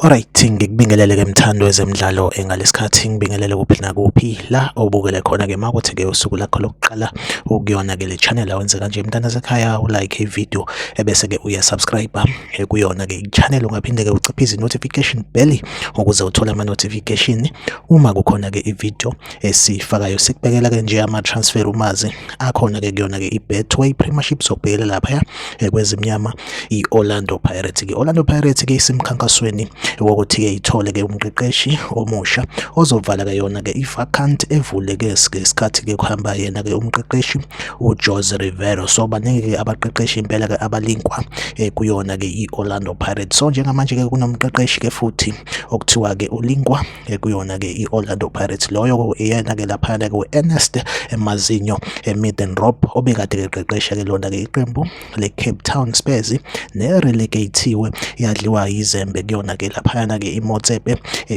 Alright, ngikubingelele ke mthando wezemidlalo engalesikhathi ngibingelele kuphi nakuphi la obukele khona ke makuthi ke usuku lakho lokuqala ukuyona ke le channel awenze kanje mntana sekhaya u like i video ebese ke uya subscribe eh, kuyona ke i channel ungaphinde ke uciphe izi notification bell ukuze uthole ama notification uma kukhona ke i video esifakayo sikubekela ke nje ama transfer umazi akhona ke kuyona ke iBetway Premiership sokubhekela lapha eh, kwezimnyama iOrlando Pirates ke Orlando Pirates ke isimkhankasweni wokuthi ke ithole ke umqeqeshi omusha ozovala ke yona ke ivacant evuleke ngesikhathi ke kuhamba yena ke umqeqeshi uJose Rivero so baningi ke abaqeqeshi impela ke abalinkwa eh, kuyona ke iOrlando Pirates so njengamanje ke kunomqeqeshi ke futhi okuthiwa ke ulinkwa ekuyona-ke i-orlando pirates loyo iyena-ke laphayana-ke u-ernest emazinyo emiden rob obekade-ke eqeqesha-ke lona-ke iqembu le-cape town spurs ne-relegatiwe yadliwa yizembe kuyona-ke laphayana-ke imotsepe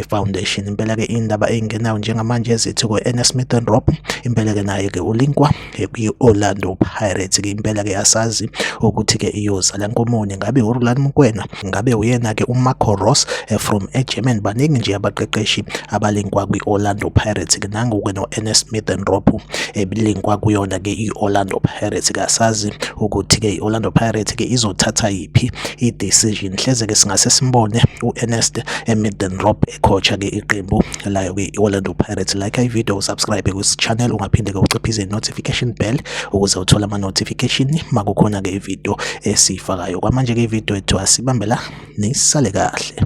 foundation impela-ke indaba eyingenayo njengamanje zithi ku-ernest miden rob impela-ke naye-ke ulinkwa kwi-Orlando Pirates ke impela ke asazi ukuthi ke iyozala nkomoni ngabe uRulani Mokwena ngabe uyena ke uMarco Ross eh, from eGerman baningi nje abaqeqeshi abalinkwa kwi-Orlando Pirates ke nangu ke no-Ernest Smith and Ropo ebilinkwa eh, kuyona ke i-Orlando Pirates ke asazi ukuthi ke i-Orlando Pirates ke izothatha yiphi i-decision hleze ke singase simbone u-Ernest Middendorp ecoacha ke iqembu layo kwi-orlando pirates like ivideo usubscribe kwisichannel ungaphinde-ke uciphize i-notification bell ukuze uthole ama-notification makukhona-ke ivideo esiyifakayo kwamanje-ke ivideo ethiwa sibambela nisale kahle